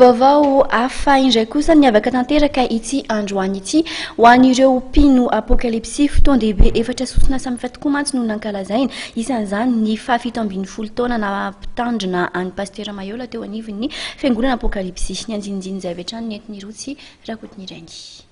Vaovao hafa indray kosa niavaka tanteraka ity androany ity ho an'ireo mpino Apokalypsy. Fotoan-dehibe efatra sosona samihafa tokoa mantsy no nankalazaina, isan'izany ny fahafito ambin'ny folo taona naha-mpitandrina an'i Pasitera Mayola teo anivon'ny Fiangonana Apokalypsy. Nianjinjiny izay avy hatrany nentin'i Rotsy Rakotonireny.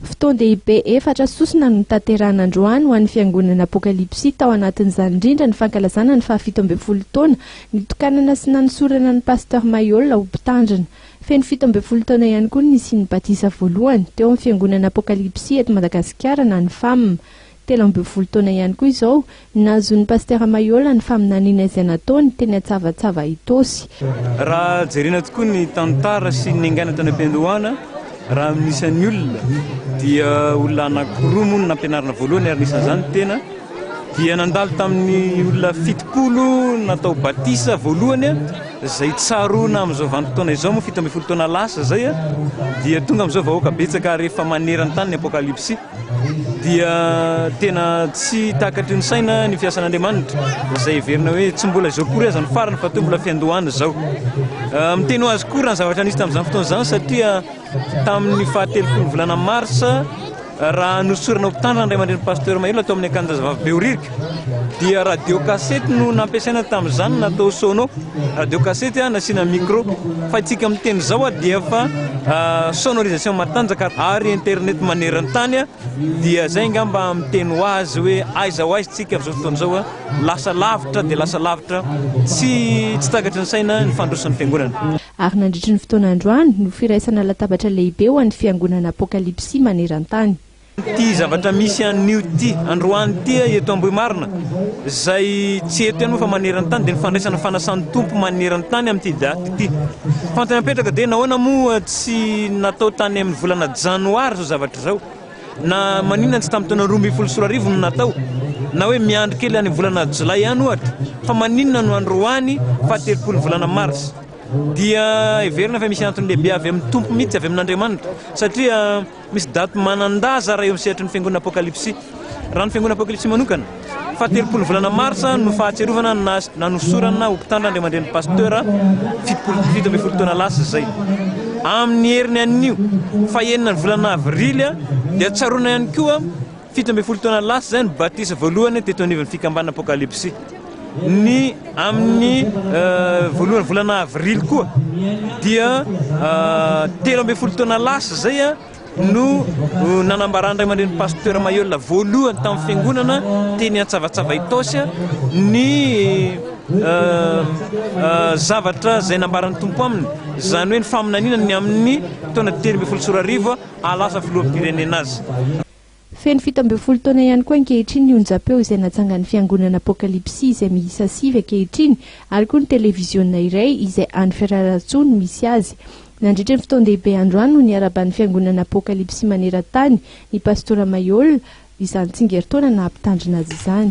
Fotoan-dehibe efatra sosona no notanterahina androany ho an'ny Fiangonana Apokalypsy, tao anatin'izany indrindra ny fankalazana ny faha fito ambin'ny folo taona nitokanana sy nanosorana an'i Pasteur Mayolla ho Mpitandrina. Feno fito ambin'ny folo taona ihany koa ny nisian'ny batisa voalohany, teo amin'ny Fiangonana Apokalypsy eto Madagasikara na ny fam. telo ambin'ny folo taona ihany koa izao, nahazoan'i Pasitera Mayola ny faminaniana izay nataony teny Antsavatsava Itaosy. Raha jerena tokoa ny tantara sy ny niaingàna tany am-piandohana, raha amin'ny isan'ny olona, dia olona anankiroa moa no nampianarina voalohany ary anisan'izany tena dia nandalo tamin'ny olona fitopolo natao batisa voalohany izay tsaroana amin'izao vanim-potoana izao moa fito ambin'ny folo taona lasa izay dia tonga amin'izao vahoaka betsaka ary efa maneran-tany ny Apokalypsy dia tena tsy takatry ny saina ny fiasan'Andriamanitra izay heverina hoe tsy mbola izao akory aza ny farany fa toa mbola fiandohana izao. Ah, miteny ho azy koa raha ny zavatra nisy tamin'izany fotoana izany satria tamin'ny fahatelo volana marsa raha nosorana ho mpitandrina ny ray aman-dreny pasteur Mahelola tao amin'ny akanjazavavy Behoririka dia radio cassette no nampiasaina tamin'izany natao sono radio cassette ah, nasiana micro fa itsika amin'ny teny izao ah, dia fa ah, sonorisation matanjaka ary internet maneran-tany ah, dia zay ngamba amin'ny teny ho azy hoe aiza ho aiza tsika amin'izao fotoana izao lasa lavitra dia lasa lavitra tsy tsy takatry ny saina ny fandrosan'ny fiangonana ary nandritry ny fotoana androany no firaisana latabatra lehibe ho an'ny fiangonana apokalipsy maneran-tany Ity zavatra misy anio ity androany ity eto Ambohimarina, izay tsy eto ihany moa fa maneran-tany, dia ny fandraisana fanasan'ny Tompo maneran-tany amin'ity daty ity. Fantany apetraka dia nahoana moa tsy natao tany amin'ny volana janoary izao zavatra izao? Na maninona tsy tamin'ny taona roa ambin'ny folo sy roa arivo no natao? Na hoe miandry kely any volana jolay any ohatra? Fa maninona no androany fahatelopolon'ny volana mars? Dia heverina fa misy antony lehibe avy amin'ny Tompo mihitsy, avy amin'Andriamanitra, satria. Misy daty manan-daza raha eo amin'ny sehatry ny Fiangonana Apokalypsy. Raha ny Fiangonana Apokalypsy manokana, fahatelopolo volana marsa no fahatsiarovana ny naha nanosorana ho mpitandro Andriamanidrenin'ny Pasteur fitopolo fito ambin'ny folo taona lasa izay. Amin'ny heriny anio, fahenina ny volana avrily, dia tsaroana ihany koa, Fito ambin'ny folo taona lasa izay no batisa voalohany teto anivon'ny fikambanana Apokalypsy. Ny amin'ny voalohany volana avrily koa dia telo ambin'ny folo taona lasa izay no nanambaran'ny ray aman-dreny pasteur Mayola voalohany tamin'ny fiangonana teny Antsavatsava Itaosy ny zavatra izay nambaran'ny tompo aminy izany hoe ny faminaniana ny amin'ny taona telo ambin'ny folo sy roa arivo ahalasa filoham-pirenena azy. Feno fito ambin'ny folo taona ihany koa ankehitriny ny onjampeo izay natsangan'ny fiangonana Apokalipsy izay miisa sivy ankehitriny ary koa ny televiziona iray izay any Fiararahatsoa no misy azy. Nandritra ny fotoan-dehibe androany no niaraban'ny fiangonana Apokalipsy maneran-tany ny Pastora Mayola izany tsingerintaona naha-mpitandrina azy izany.